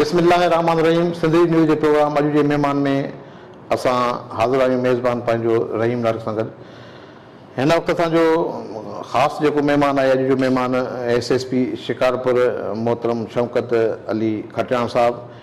بسم الله الرحمٰن الرحيم سنڌڙي نيوز جي پروگرام اڄ جي مهمان ۾ اسان حاضر آهيون ميزبان پنهنجو رحيم نارڪ سان گڏ هن وقت اسان جو خاص جيڪو مهمان آهي اڄ جو مهمان ايس ايس پي شڪارپور محترم شوڪت علي کٽياڻ صاحب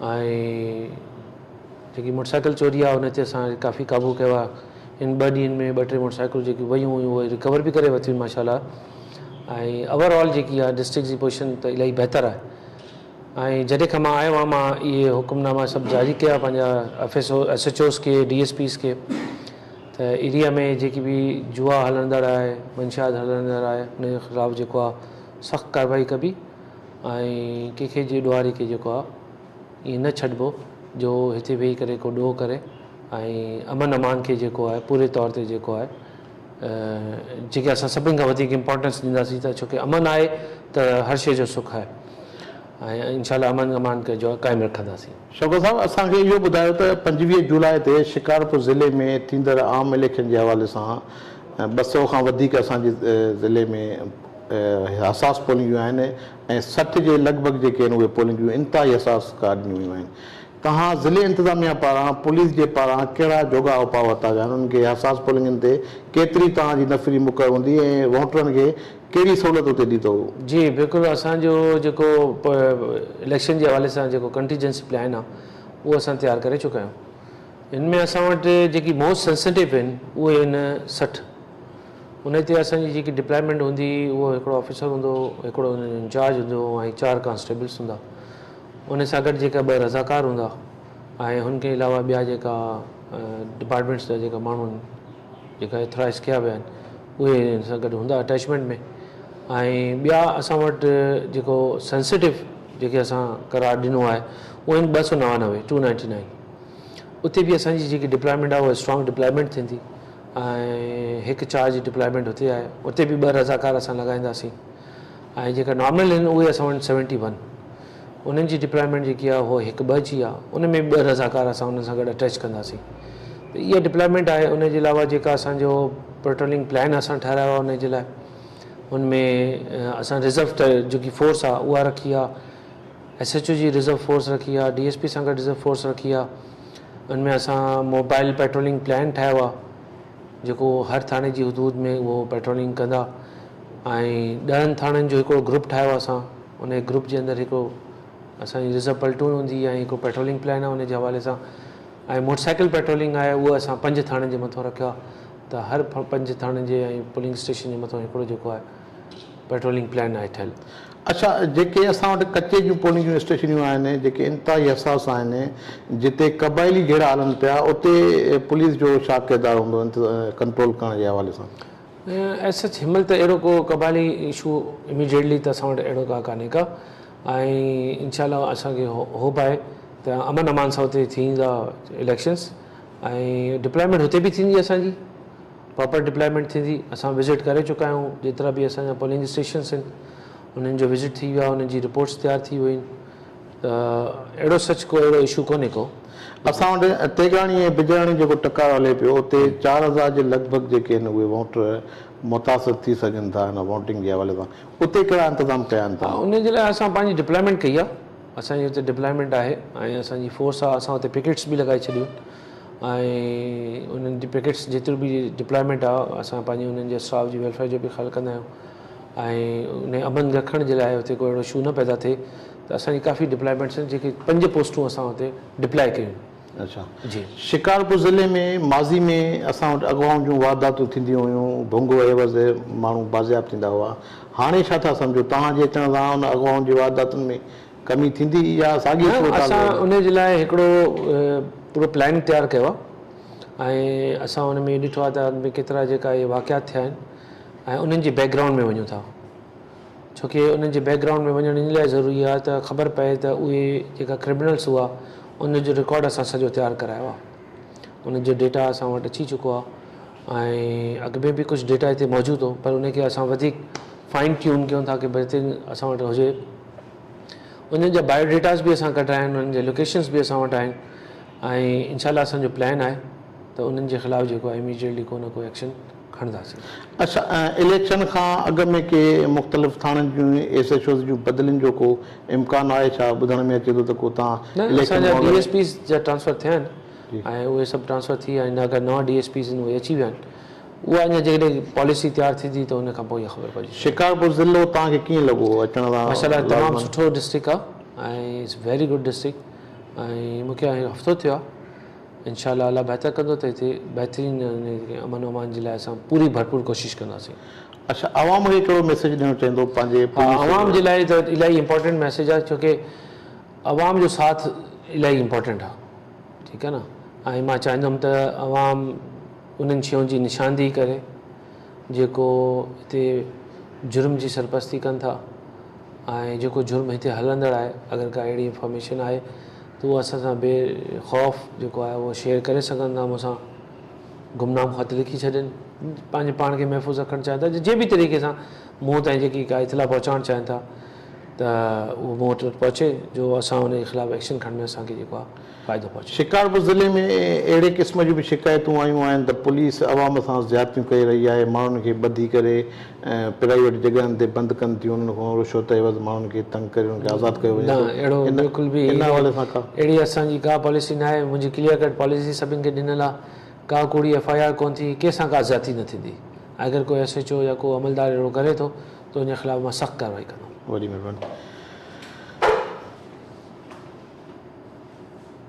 ۽ جيڪي موٽر سائيڪل چوري آ ان تي اسان ڪافي قابو ڪيو آ ان ٻه ڏينهن ۾ ٻه ٽي موٽر سائيڪلون جيڪي ويون هيون اهي رڪور به ڪري ورتيون ماشاء الله ۽ اوور آل جيڪي آ ڊسٽرڪٽ جي پوزيشن ته الائي بهتر آهي ۽ جڏهن کان مان آيو آ مان اهي حڪم ناما سڀ جاري ڪيا پنهنجا F S O S H Os کي ڊي ايس پيز کي ته ايريا ۾ جيڪي به جوا هلندڙ آهي منشيات هلندڙ آهي ان جي خلاف جيڪو آ سخت ڪارروائي ڪبي ۽ ڪنهن کي جي ڏوهاري کي جيڪو آ ائين نه ڇڏبو جو هتي ويهي ڪري ڪو ڏوهه ڪري ۽ امن امان کي جيڪو آهي پوري طور تي جيڪو آهي جيڪي اسان سڀني کان وڌيڪ امپورٽنس ڏينداسين ته ڇوڪي امن آهي ته هر شيء جو سک آهي ۽ انشاء الله امن امان کي جو قائم رکنداسين. شوڪت صاحب اسان کي اهو ٻڌايو ته پنجويهه جولاء تي شڪارپور ضلعي ۾ ٿيندڙ عام اليڪشن جي حوالي سان ٻه سؤ کان وڌيڪ اسان جي ضلعي ۾ حساس پولينديون آهن ۽ سٺ جي لڳ ڀڳ جيڪي آهن اهي پولينديون انتهائي حساس قرار ڏنيون ويون آهن تنهان ضلعي انتظاميا پاران پوليس جي پاران ڪهڙا جوڳا اپاء ورتا ويا آهن انهن کي حساس پولنگن تي ڪيتري تنهان جي نفري مقرر هوندي ۽ ووٽرن کي ڪهڙي سهولت اتي ڏيندو. جي بلڪل اسان جو جيڪو اليڪشن جي حوالي سان جيڪو ڪنٽيجنسي پلان آهي اهو اسان تيار ڪري چڪا آهيون ان ۾ اسان وٽ جيڪي موسٽ سينسيٽو آهن اهي آهن سٺ ان هتي اسان جي جيڪي ڊپلائمينٽ هوندي هئي اهو هڪڙو آفيسر هوندو هو هڪڙو ان جو انچارج هوندو هو ۽ چار ڪانسٽيبلس هوندا ان سان گڏ جيڪا ٻه رضاڪار هوندا ۽ هن کان علاوه ٻيا جيڪا ڊپارٽمينٽس جا جيڪا ماڻهو آهن جيڪا اٿرائز ڪيا ويا آهن اهي ان سان گڏ هوندا اٽيچمينٽ ۾ ۽ ٻيا اسان وٽ جيڪو سينسيٽو جيڪي اسان قرار ڏنو آهي اهو آهن ٻه سؤ نوانوي ٽو نائنٽي نائن اتي به اسان جي جيڪي ڊپلائمينٽ آهي اها اسٽرانگ ڊپلائمينٽ ٿيندي ۽ هڪ چار جي ڊپلائمينٽ اتي آهي اتي به ٻه رضاڪار اسان لڳائينداسين ۽ جيڪا نارمل آهن اهي اسان وٽ سيونٽي ون انهن جي ڊپلائمينٽ جيڪي آهي اهو هڪ ٻه جي آهي ان ۾ به ٻه رضاڪار اسان انهن سان گڏ اٽيچ ڪنداسين ته اها ڊپلائمينٽ آهي ان جي علاوه جيڪا اسانجو پيٽرولنگ پلان اسان ٺهرايو آهي ان جي لاء ان ۾ اسان ريزرو جيڪي فورس آهي اها رکي آهي ايس ايڇ او جي ريزرو فورس رکي آ ڊي ايس پي سان گڏ ريزرو فورس رکي آ ان ۾ اسان موبائل پيٽرولنگ پلان ٺاهيو آ جيڪو هر ٿاڻي جي حدود ۾ اهو پيٽرولنگ ڪندا ۽ ڏهن ٿاڻن جو هڪڙو گروپ ٺاهيو آ اسان ان گروپ جي اندر هڪڙو اسان جي ريزرو پلٽون هوندي ۽ هڪڙو پيٽرولنگ پلان آ ان جي حوالي سان ۽ موٽر سائيڪل پيٽرولنگ آهي اهو اسان پنج ٿاڻن جي مٿو رکيو آ ته هر پنج ٿاڻن جي ۽ پولنگ اسٽيشن جي مٿو هڪڙو جيڪو آهي پيٽرولنگ پلان آهي ٺهيل. اچا جيڪي اسان وٽ ڪچي جون پولنگ جون اسٽيشنيون آهن جيڪي انتهائي حساس آهن جتي قبائلي جهيڙا هلن پيا اتي پوليس جو ڇا ڪردار هوندو ڪنٽرول ڪرڻ جي حوالي سان؟ ايز سچ هن مهل ته اهڙو ڪو قبائلي اشو اميڊيٽلي ته اسان وٽ اهڙو ڪا ڪانهي ڪا ۽ انشاء الله اسان کي هوپ آهي ته امن امان سان اتي ٿيندا اليڪشنس ۽ ڊپلائمينٽ هتي به ٿيندي اسان جي پراپر ڊپلائمينٽ ٿيندي اسان وزٽ ڪري چڪا آهيون جيترا به اسان جا پولنگ اسٽيشنس آهن انهن جو وزٽ ٿي ويو آهي انهن جي رپورٽس تيار ٿي ويون آهن ته اهڙو سچ ڪو اهڙو اشو ڪونهي ڪو اسان وٽ تيجاڻي ۽ بجاڻي جيڪو ٽڪراء هلي پيو اتي چار هزار جي لڳ ڀڳ جيڪي آهن اهي ووٽر متاثر ٿي سگهن ٿا هن ووٽنگ جي حوالي سان اتي ڪهڙا انتظام ڪيا آهن توهان ان جي لاء اسان پنهنجي ڊپلائمينٽ ڪئي آهي اسان جي اتي ڊپلائمينٽ آهي ۽ اسان جي فورس آهي اسان اتي پڪيٽس به لڳائي ڇڏيون آهن. ۽ انهن جي پيڪيٽس جيترو به ڊپلائمينٽ آهي اسان پنهنجي انهن جي اسٽاف جي ويلفيئر جو به خيال ڪندا آهيون ۽ انهي امن رکڻ جي لاء اتي ڪو اهڙو اشو نه پيدا ٿئي ته اسان جي ڪافي ڊپلائمينٽس آهن جيڪي پنج پوسٽون اسان اتي ڊپلائي ڪيون اچا جي شڪارپور ضلعي ۾ ماضي ۾ اسان وٽ اغوائن جون وارداتون ٿينديون هيون ڀونگو عيوض ماڻهو بازياب ٿيندا هئا هاڻي ڇا ٿا سمجهو توهان جي اچڻ سان ان اغوائن جي وارداتن ۾ ڪمي ٿيندي يا ساڳي نه صورتحال اسان رهندي؟ انهي جي لاء هڪڙو پورو پلان تيار ڪيو آهي ۽ اسان ان ۾ ڏٺو آهي ته اڳ ۾ ڪيترا جيڪا اهي واقعات ٿيا آهن ۽ انهن جي بيڪ گرائونڊ ۾ وڃون ٿا ڇو ڪي انهن جي بيڪ گرائونڊ ۾ وڃڻ ان لاء ضروري آهي ته خبر پئي ته اهي جيڪا ڪرمنلس هئا انهن جو رڪارڊ اسان سڄو تيار ڪرايو آهي انهن جو ڊيٽا اسان وٽ اچي چڪو آهي ۽ اڳ ۾ به ڪجهه ڊيٽا هتي موجود هو پر انهي کي اسان وڌيڪ فائن ٽيون ڪيون ٿا ڪي بهترين اسان وٽ هجي انهن جا بايو ڊيٽاز به اسان ڪڍرايا آهن انهن جي لوڪيشنز به اسان وٽ آهن ۽ انشاء الله اسان جو پلان آهي ته انهن جي خلاف جيڪو آهي اميڊيٽلي ڪو نه ڪو ايڪشن کڻنداسين. اسان اليڪشن کان اڳ ۾ ڪي مختلف ٿاڻن جون ايس ايڇ اوز جون بدلين جو ڪو امڪان آهي ڇا ٻڌڻ ۾ اچي ٿو ته ڪو تان نه اسان جا ڊي ايس پيز جا ٽرانسفر ٿيا آهن ۽ اهي سڀ ٽرانسفر ٿي ويا آهن اگر نوان ڊي ايس پيز آهن اهي اچي ويا آهن اها اڃا جيڪڏهن پاليسي تيار ٿيندي ته ان کان پوء ئي خبر پئجي. شڪارپور ضلعو توهان کي ڪيئن لڳو اچڻ سان؟ ماشاء الله تمام سٺو ڊسٽرڪ آ ۽ اٽس ويري گڊ ڊسٽرڪ ۽ مونکي هاڻي هفتو ٿيو آ انشاء الله الله بهتر ڪندو ته هتي بهترين امن امان جي لاء اسان پوري ڀرپور ڪوشش ڪنداسين. اڇا عوام کي ڪهڙو ميسيج ڏيڻ چاهيندو پنهنجي پوليس ها عوام جي لاء ته الاهي امپورٽنٽ ميسيج آ ڇو ڪي عوام جو ساٿ الاهي امپورٽنٽ آ. ٺيڪ آهي نه ۽ مان چاهيندم ته عوام انهن شيون جي نشاندهي ڪري جيڪو هتي جرم جي سرپرستي ڪن ٿا ۽ جيڪو جرم هتي هلندڙ آهي اگر ڪا اهڙي انفارميشن آهي ته اهو اسان سان بي خوف جيڪو آهي اهو شيئر ڪري سگهن ٿا مون سان گمنام خط لکي ڇڏين پنهنجي پاڻ کي محفوظ رکڻ چاهين ٿا جي به طريقي سان مون تائين جيڪي ڪا اطلاع پهچائڻ چاهين ٿا ته اهو مون وٽ پهچي جو اسان ان جي خلاف ايڪشن کڻڻ ۾ اسان کي جيڪو آهي فائدو پهچي. شڪارپور ضلعي ۾ اهڙي قسم جون به شڪايتون آيون آهن ته پوليس عوام سان زيادتيون ڪري رهي آهي، ماڻهن کي ٻڌي ڪري پرائيويٽ جڳهن تي بند ڪن ٿيون، انهن کان رشوت عيوض ماڻهن کي تنگ ڪري انهن کي آزاد ڪيو وڃي ٿو، ان حوالي سان ڪا. اهڙي اسان جي ڪا پاليسي ناهي، منهنجي ڪليئر ڪٽ پاليسي سڀني کي ڏنل آهي، ڪا ڪوڙي ايف آء آر ڪونه ٿيندي، ڪنهن سان ڪا زيادتي نه ٿيندي ۽ اگر ڪو ايس ايڇ او يا ڪو عملدار اهڙو ڪري ٿو تنهنجي خلاف مان سخت ڪارروائي ڪندم. وڏي مهرباني.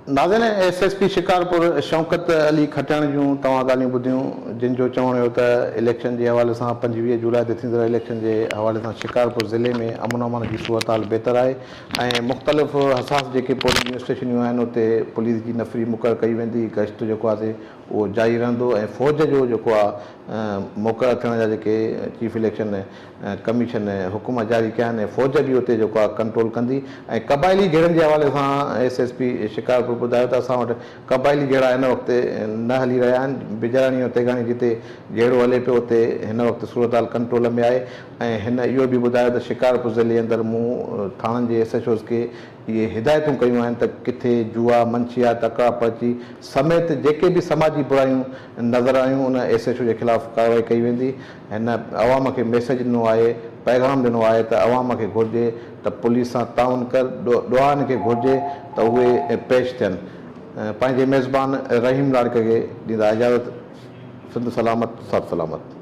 ناظرين S S P Shikarpur Shaukat Ali Khatiyani جون توهان ڳالهيون ٻڌيون جن جو چوڻ هيو ته اليڪشن جي حوالي سان پنجويهه جولاء تي ٿيندڙ اليڪشن جي حوالي سان شڪارپور ضلعي ۾ امن امان جي صورتحال بهتر آهي ۽ مختلف حساس جيڪي پولنگ اسٽيشنيون آهن اتي پوليس جي نفري مقرر ڪئي ويندي گشت جيڪو آسي اهو جاري رهندو ۽ فوج جو جيڪو آ مقرر ٿيڻ جا جيڪي چيف اليڪشن ڪميشن حڪم جاري ڪيا آهن فوج به اتي جيڪو آ ڪنٽرول ڪندي ۽ قبائلي جهيڙن جي حوالي سان ايس ايس پي شڪارپور ٻڌايو ته اسان وٽ قبائلي جهيڙا هن وقت نه هلي رهيا آهن بجراڻي ۽ تيغاڻي جتي جهيڙو هلي پيو اتي هن وقت صورتحال ڪنٽرول ۾ آهي ۽ هن اهو به ٻڌايو ته شڪارپور ضلعي اندر مون ٿاڻن جي ايس ايڇ اوز کي اهي هدايتون ڪيون آهن ته ڪٿي جوا، منشيات، اڪڙا پرچي سميت جيڪي به سماجي برايون نظر آيون ان ايس ايڇ او جي خلاف ڪارروائي ڪئي ويندي. هن عوام کي ميسيج ڏنو آهي، پيغام ڏنو آهي ته عوام کي گهرجي ته پوليس سان تعاون ڪر، ڏوهارين کي گهرجي ته اهي پيش ٿين. پنهنجي ميزبان رحيم لاڙڪاڻي کي ڏيندا اجازت سنڌ سلامت سر سلامت.